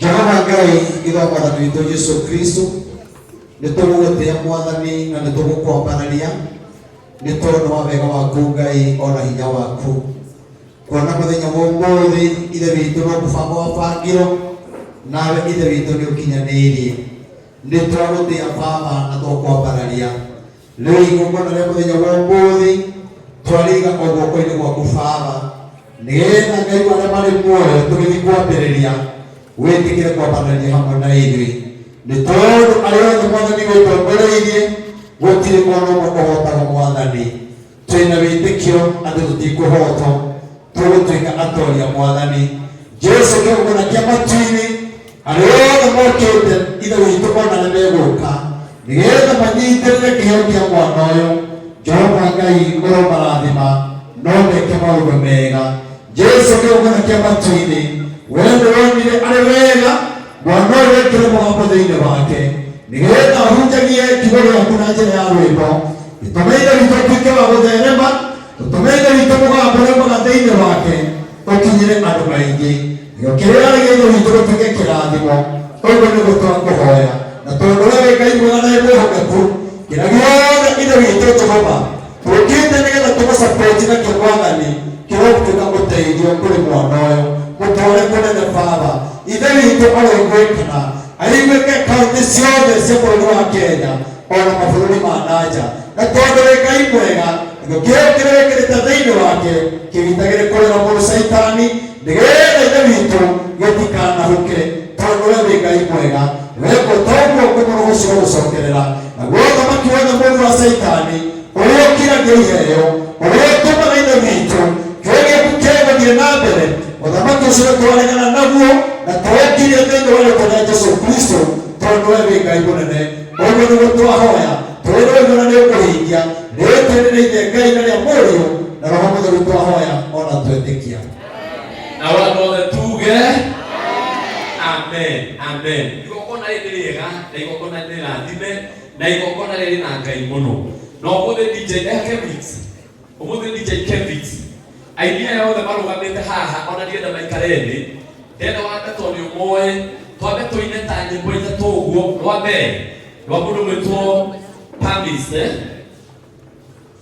jehova ngai ithokwatha twitũ jesu kristo nĩ tũgũgũtĩa mwathani na nĩ tũgũkwambararia nĩ tondũ wa wega waku ngai ona hinya waku kuona mũthenya wa ũmũthĩ ithe witũ no mũbango wa bangiro nawe ithe witũ nĩ ũkinyanĩirie nĩ twagũtĩa baba na tũkwambararia rĩu igongona rĩa mũthenya wa ũmũthĩ twarĩiga o guoko-inĩ gwaku baba nĩgetha ngai warĩa marĩ muoyo tũgĩthiĩ kwambĩrĩria wĩtĩkĩre kwambanĩria hamwe na ithuĩ nĩ tondũ arĩa othe mwathani wĩtongoreirie gũtirĩ ona ũmwe ũhotagwo mwathani twĩna wĩtĩkio atĩ tũtikũhotwo tũgũtuĩka atoria mwathani jesu kĩgũna kĩa matu-inĩ arĩa othe mokĩte ithe witũ ona nĩ megũka nĩgetha manyitĩrĩre kĩheo kĩa mwana ũyũ jehova ngai ũromarathima no meke maũndũ mega jesu akĩũkana kĩamatu-inĩ we nĩwonire arĩ wega mwana ũyũ wekĩre mũgambo thĩinĩ wake nĩgetha ahunjagie kiugo gĩaku na njĩra ya rwĩmbo gĩtũme ithe witũ atuĩke wa gũtherema gĩtũme ithe witũ mũgambo ũrĩa mwega thĩinĩ wake ũkinyĩre andũ aingĩ nĩo kĩrĩa arĩ gĩithe witũ gĩtuĩke kĩrathimo ũguo nĩguo twakũhoya na tondũ we wĩ ngai mwega na wĩ mwĩhokeku kĩrĩa gĩothe ithe witũ jehova tũthiĩte nĩgetha tũgũsapoti na kĩgwathani kĩrotuĩka ũteithio kũrĩ mwana ũyũ mũtware kũnene baba ithe witũ aroiguĩkana aiguĩke kaunti ciothe cia bũrũri wa kenya ona mabũrũri ma nanja na tondũ wĩ ngai mwega gĩtho kĩu kĩrĩ wĩkĩrĩte thĩinĩ wake kĩgitagĩrĩ kũrĩra mũrũ caitani nĩgetha ithe witũ gĩtikanahũke tondũ we wĩ ngai mwega weka ũtoguo kũmũrũgũcio gũcokerera naguo ũthamaki wothe mũru wa caitani ũrĩa ũkiragia iheo ũrĩa ũtũmaga ithe witũ kĩgeku kĩgũthiĩ na mbere ũthamaki ũcio twaregana naguo na tũũkirie thĩinĩ wa rĩtwa rĩa jesu kristo tondũ we wĩ ngai mũnene ũguo nĩguo twahoya tũrĩ rũgio na nĩũkũhingia rĩtwa-inĩ rĩa ithe ngai na rĩa mũriũ na roho mũtheru twahoya ona twetĩkia na watu wote tuge amen amen igokona rĩrĩ rĩega na igokona nĩ rathime na igokona rĩrĩ na ngai mũno na ũmũthĩ dj eh, kevix ũmũthĩ dj kevix ainia yothe marũgamĩte haha ona ndienda maikare thĩ ndenda wambe tondũ ũmoĩ twambe tũine ta nyĩmbo ithatũ ũguo rwa mbere rwa mũndũ gwĩtwo pamis eh?